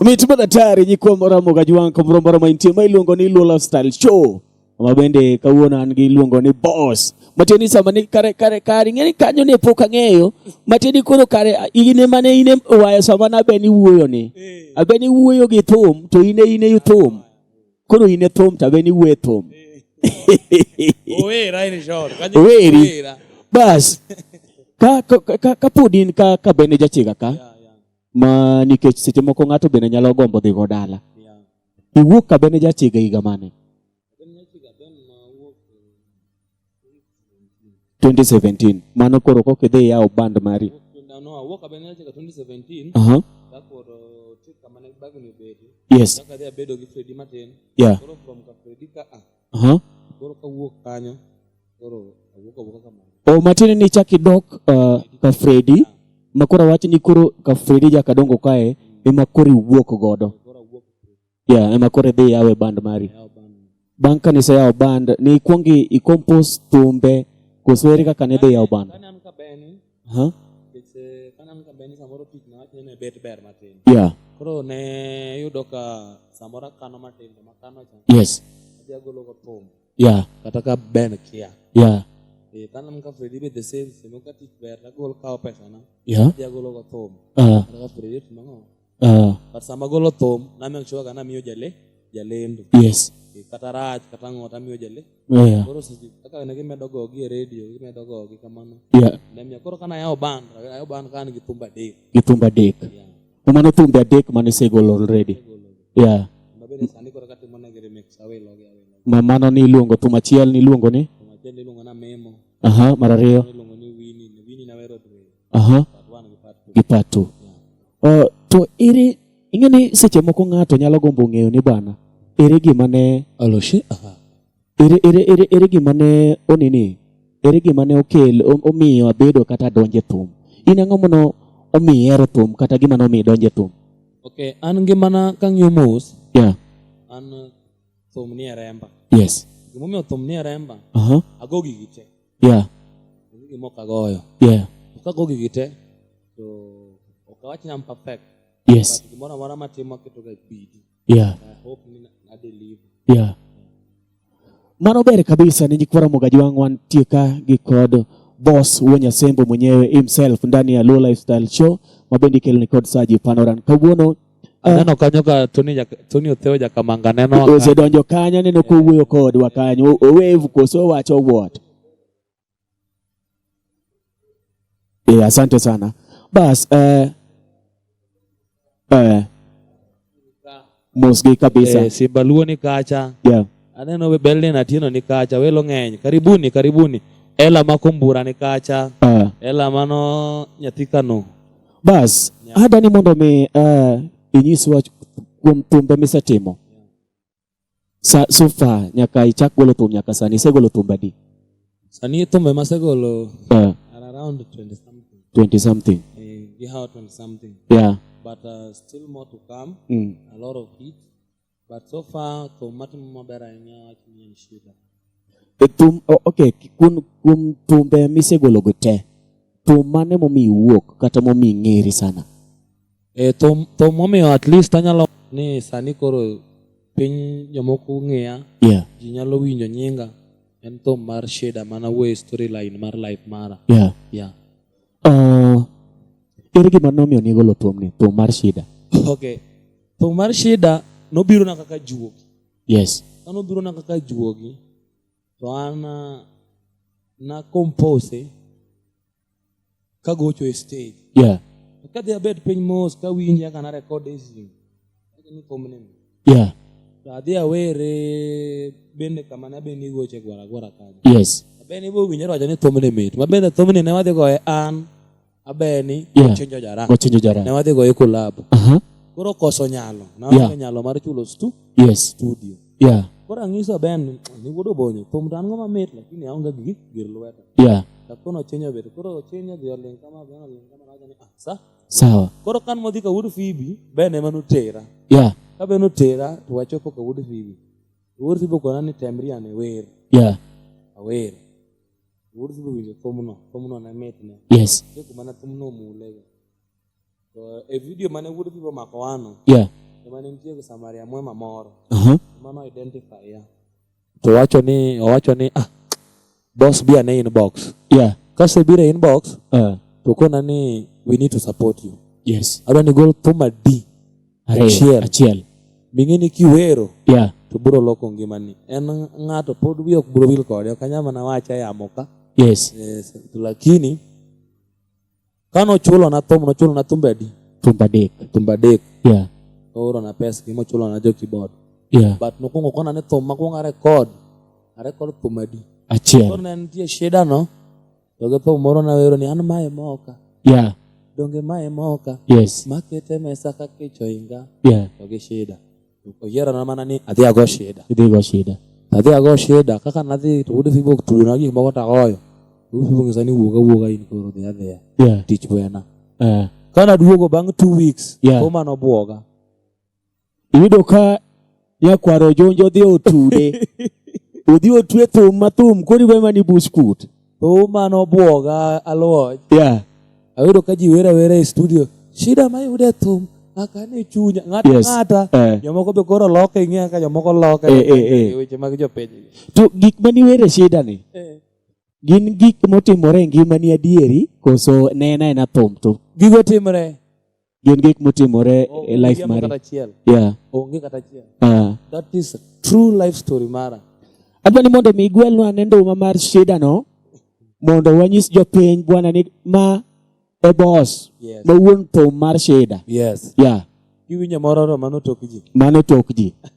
Mit mana tari nyikwa Ramoga Jwang' kom rombo roma intie ma iluongo ni Luo Lifestyle Show. Ma bende kawuono an gi iluongo ni Boss. Matieni sama ni kare kare kare ing'eni kanyo ne pok ang'eyo. Matieni koro kare ine mane ine waya sama na beni wuoyo ni. Eh. Abeni wuoyo gi thum to ine ine yu thum. Koro ine thum to abeni wuoyo thum. Eh. Owera ine shor. Oweri. Bas. Ka ka ka, ka pudin ka ka bene jachiga ka. Yeah. ma nikech seche moko ng'ato bende nyalo gombo dhigo dala iwuok ka bene jachiga higa mane 2017 mano koro kok idhi yawo band mari Aha. yes yeah Aha. Koro kawuok kanyo koro awuok awuoka kamano. O matiende ni chak idok uh, ka Fredi ma koro wach ni koro ka Fredi ja kadongo kae ema koro iwuok godo. Koro awuok Ya, yeah, ema koro idhi yawe band mari. yawo band. Bang' kane iseyawo band, ni ikwongi ikompos thumbe koso ere kaka ne idhi yawo band? Kane an ka Beni Aha. Nikech eh, kaneno ka Ben samoro tich na watimo ne bet ber matin. Yeah. Koro ne yudo ka samoro akano matin to makano cha Yes. adhi agolo go thum Yeah. kata ka Ben kia. Yeah. Eh, kaneno ka Fredi be the same same ka tich ber agol kawo pesa na Yeah. adhi agolo go thum Uh, kata ka Fredi to mang'o uh. but sama golo thum namake sure ka namiyo jale jalendo yes eh, kata rach kata ng'o tamiyo jale yeah. koro siji kaka ne gimedo gogi e redio gimedo gogi kamano yeah. namiyo koro kana yawo band ayawo band ka an gi thumbe adek gi thumbe adek yeah. umano thumbe adek mane segolo already yeah mabende sani koro katimo negi remix awilogi awilogi ma mano ni iluongo thum achiel ni iluongo ni thum achiel iluongo na memo aha mar ariyo iluongo ni wini wini nawero aha gi part two uh, to ere ing'e ni seche moko ng'ato nyalo gombo ng'eyo ni bana ere gima ne aloshi aha ere ere ere ere gima ne onini ere gima ne okel o- omiyo abedo kata adonje thum in ang'o mono omiyo ihero thum kata gima ne omiyo idonje thum okay an ngimana kang'iyo mos yeah an thum ni e remba yes gimomiyo thum ni e remba aha ago gigi te yeah onge gima ok agoyo yeah to kago gigi te to ok awach ni am perfect yes but gimoro amora matimo aketoga e bidi yeah i hope ni na- na deliver yeah mano ber kabisa ni nyikwara mogaji wangu wantie ka gi kod boss wuon nyasembo mwenyewe himself ndani ya low lifestyle show mabende ikelo ni kod saji panoran kawuono Ah. Aneno kanyo ka Tony Jaka- Tony Otheo Jakamanga neno ka. osedonjo kanyo aneno kowuoyo kodwa kanyo O- owevu koso owacho what e, asante sana bas eh, eh, mosgi kabisa Eh, Simba Luo ni kacha. yeah. Aneno we Belden Atieno ni kacha, welo ng'eny. Karibuni, karibuni. Ela Makumbura ni kacha. eh, Ela mano nyathi Kano. Bas, ada ni mondo mi uh, inyiswa kuom thumbe misetimo. Sa, so far nyaka ichak golo thum nyaka sani isegolo thumbe adi? Sani thumbe masegolo yeah. are around 20 something. 20 something. Eh, gi how 20 something. Yeah. But uh, still more to come. Mm. A lot of hits. But so far thum matimo maber ahinya wach miya ni shida. E thum o- okay kuom kuom thumbe misegologo te thum mane momiyo iwuok kata momiyo ing'eri sana E thum thum momiyo at least anyalo ni sani koro piny jomoko ng'eya yeah ji nyalo winjo nyinga en thum mar shida mana wuoye storyline mar life mara yeah yeah. Uh, ere gima nomiyo nigolo thumni thum mar shida okay thum mar shida nobiro na kaka juogi yes ka nobiro na kaka juogi to an ah, na compose kagocho e stage yeah kadhi abed piny mos kawinje kaka na recording Yeah. To adhi awere bende kama na bende igoche gwara gwara kanyo. Yes. Abeni ibo winyo wacho ni thumni mit. Ma bende thumni ne wadhi goye an abeni yeah. chinjo jara. Wachinjo jara. Ne wadhi goye collab. Uh -huh. Koro koso nyalo. Na yeah. nyalo mar chulo stu. Yes. Studio. Yeah. Koro angiso ben ni wudo bonyo thum dan ngoma mit lakini aonge gi gir lweta. Yeah. Lakini ochinyo bet. Koro ochinyo dhi oling kama ben oling kama raja ni ah sa. Sawa. Koro kan modhi ka wuod Fibi, Ben ema notera. Yeah. Ka Ben notera to wachopo ka wuod Fibi. Wuod Fibi okona ni temri ane wer. Yeah. Awer. Wuod Fibi winjo thumno, thumno ne mitne. Yes. Sio kuma na thumno omulego. To e video mane wuod Fibi omako wano. Yeah. Ema ne nitie Samaria mwema moro. Uh -huh. Mano identify ya. Yeah. to wacho ni owacho ni ah boss be an inbox yeah kase biro e inbox uh, to kona ni we need to support you yes adwa ni gol thum adi Ariyo, Achiel. achiel ming'e ni kiwero yeah to biro loko ngimani en ng'ato pod wiye ok biro wil kode ok anyal mana wacha yamo ka yes yes. lakini Ka nochulo na thum, nochulo na thumbe adi? Thumbe adek. Thumbe adek. Yeah. Nooro na pesa gi mochulo na jo keyboard. Yeah. But nokwongo kona ni thum makwongo a record. A record thum adi? Achiel. Koro ne nitie shida no. To gi thum moro nawero ni an mae moka. Yeah. Donge mae moka. Yes. Makete mesa kakecho inga. Yeah. To gi shida. Oyiara na mana ni adhi ago shida. Idhi go shida. Adhi ago shida kaka nadhi to wuod Fibo ok tudo na gik moko to agoyo. Wuod Fibo ng'isa ni wuoga wuoga in koro dhi adhiya. Yeah. Tich wena. Eh. Ka naduogo bang' two weeks, Yeah. homa nobwoga. Iyudo ka nyakwaro jonjo odhi otude. Odhi otwe thum ma thum koro iwe mana ni buskut. Thum mano obwoga alwoj. Yeah. Ayudo ka ji wer awera e studio. Shida mayudo e thum maka ni chunya ng'ata yes. ng'ata eh. jomoko be koro loke ing'eya ka jomoko loke eh, eh, eh. weche mag jopiny. To gik ma niwere shida ni eh. gin gik motimore e ngimani adieri koso ne en aena thum tu? Gigo timre. Gin gik motimore Oh, e life miriambo mari. kata achiel. Yeah. Onge kata achiel. Ah. That is a true life story mara. Adwa ni mondo mi igwelnwa ane nduma mar shida no mondo wanyis jopiny bwana ni ma e boss Yes. ma wuon thum mar shida. Yes. Yeah. Iwinjo moro ro mano tok ji. Mano tok ji.